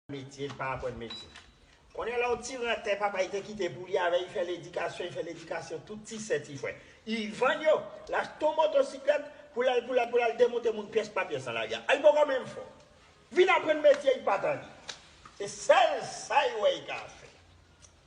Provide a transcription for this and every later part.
metye, li pa aprann metye. Konnen la yon ti rantè papa li te kite pou li avè li fè ledikasyon, li fè ledikasyon tout ti sè ti frè. Li vann yo, li achte yon motosiklèt pou l al pou l al pou l al demonte moun pyès pa pyès nan lari a. Li poko menm fò. Vin aprann metye li pa tande. Se sèl sa li wè li ka fè.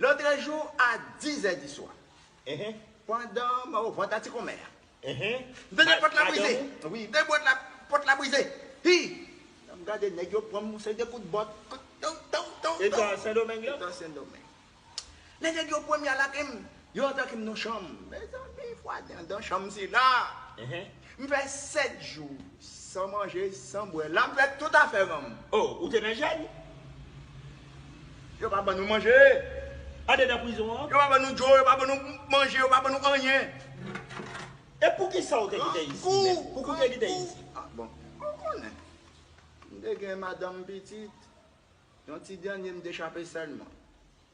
Lotre jou a dizè di swa. Pandan m o vant atikonmè a. M tande pòt la brize. Wi, m tande bwat la, pòt la brize. Hi! Lè m gade nèg yo pran m yon seri de kout bòt. Tou, tou, tou, tou. Eta Sendomeng la? Eta Sendomeng. Lè nèg yo pran m y a lage m. Yo atake m nan chanm. Mezanmi fwadi andan chanm sila. M fè 7 jou san manje, san bwè. La m fè tout afè ranm. Oh, ou te nan jèn? Yo pa ban nou manje. Andedan prizon an? Yo pa ban nou djo, yo pa ban nou manje, yo pa ban nou anyen. E poukisa ou te kite isi, mèt? Pou ki ou te kite isi? Ah bon, ou konnen. M te gen madanm, pitit. Yon ti dènye m te chape sèlman.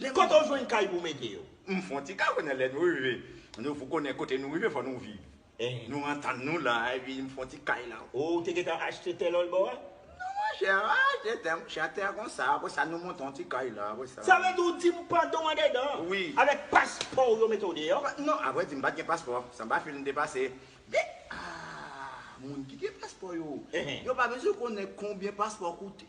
Gen kote w jwenn kay pou w mete yo? M fon ti kay wi nan lè nou rive. Nou pou konnen kote nou rive fò nou viv. Nou antann nou la epi m fon ti kay la. Ou te gentan achte tè lòl bò a? Non monchè, m pa achte tè monchè, a tè konsa. Apre sa nou monte yon ti kay la apre sa. Sa vle di w di m pandan w andedan an, avèk paspò w yo mete w deyò? Non, avrè di m pa t gen paspò. San pa fil m te pase. Men, ah! Moun ki gen paspò yo, yo pa bezwen konnen konbyen paspò koute.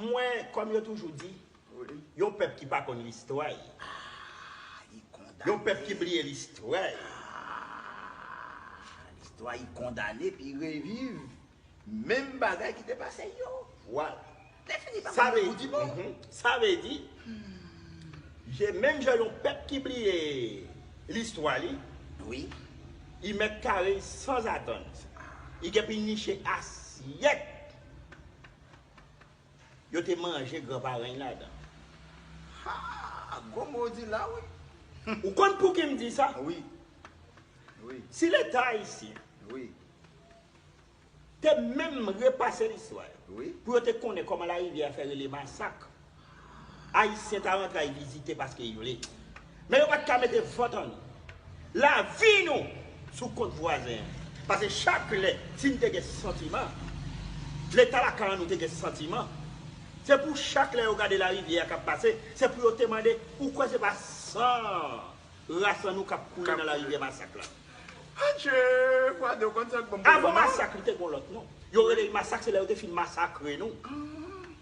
M wè kòm yo toujou di yon pèp ki pa konn listwa y yon pèp ki bliye listwa y listwa y kondane pou y reviv menm bagay ki te pase yo vwala sa vle di menm jan yon pèp ki bliye listwa li y mèt kare y sanzatann y gen pou y niche asyèt Yo te manje gran parèn ladan. Haa! Gwo mo ou di la wi. Ou konn pouki m di sa? Wi. Wi. Si leta ayisyen. Wi. Te menm repase listwa yo. Wi. Pou yo te konnen kòman larivyè a fè rele masak. Ayisyen ta rantre al vizite paske y vle. Men yo pa t ka mete vant an lavi nou sou kont vwazen an. Pase chak lè si n te gen santiman, Leta lakay an nou te gen santiman, se pou chak lè yo gade larivyè a k ap pase, se pou yo te mande, ou kwè se pa san rasan nou k ap koule nan larivyè masak la? Adje! Fwade ou konn sa k bon pou ou non. Avan masak li te gen yon lòt non. Yo rele l masak se lè yo te fin masakre nou.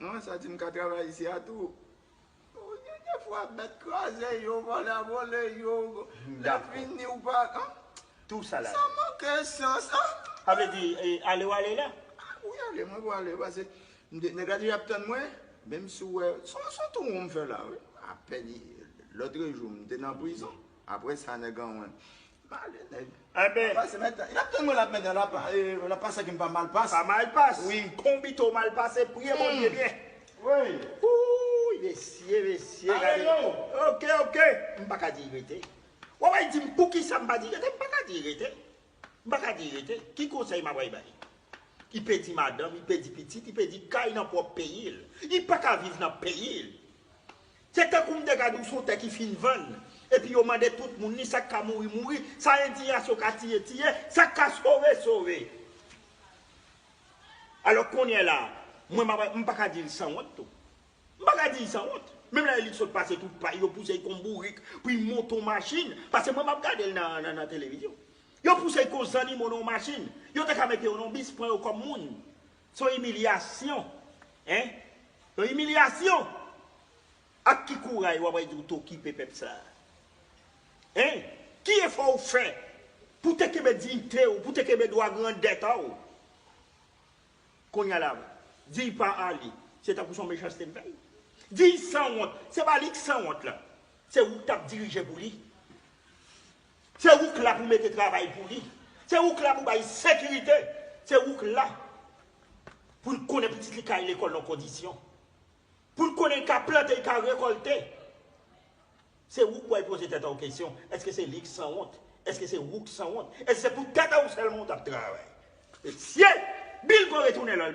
Mwen santi m ka travay isi a tou. Ou gen de fwa bèt kraze yo, vòlè a vòle yo, lè fini ou pa an. Tou sa la. Sa manke sans an. Sa vle di ale w ale la? Wi ale mwen pou ale pase nèg la deja ap tann mwen. Menm si w wè son tou won m fè la wi. Apèn lòtrejou m te nan prizon. Apre sa nèg anwen. Male nèg. Enben. Lap pase mèt. Lap tann mwen lap mèt lap pase kem pa mal pas. Pa mal pas. Wi. Konbito mal pase priye Bondye byen. Woy. Oouyy mesye mesye gade. Male non. Ok ok. M paka di rete. Wap bay dim poukisa m pa di rete m paka di rete. M paka di rete. Ki konsèy map bay bay. Li pedi madanm li pedi pitit li pedi kay nan pwòp peyil. Li paka viv nan peyil. Se tankou m te gad yon son tè ki fin vann, epi yo mande tout moun li, sa k ka mouri mouri, sa endiyasyon ka tiye tiye, sa k ka sove sove. Alò konyè la, mwen m m pa ka di l sanwont tou. M pa ka di l sanwont. Menm lè li sot pase tout pay, yo pouse l kon bourik pou l monte yon machin, pase mwen m ap gade l nan televizyon. Yo pouse l kon zannimo nan yon machin. Yo te ka mete yo nan yon bis, pran yo kòm moun. S on imilyasyon hein S on imilyasyon Ak ki kouray w ap al di w t okipe pèp sa a hein Ki efò w fè pou w te kenbe diyite w pou w te kenbe dwa grandèta w Kounye a la Di y pa ale Se tankou s on mechanste m fè l Di y sanwont Se pa li k sanwont la Se ou k t ap dirije pou li Se ou k la pou mete travay pou li. Se ou k la pou bay sekirite. Se ou k la pou l konnen pitit li ka al lekòl nan kondisyon. Pou l konnen l ka plante, l ka rekòlte. Se ou k wè poze tèt a w kesyon, èske se li k sanwont? Èske se ou k sanwont? Èske se pou tèt a w sèlman ou t ap travay? Mesye! Bill pran retounen l al.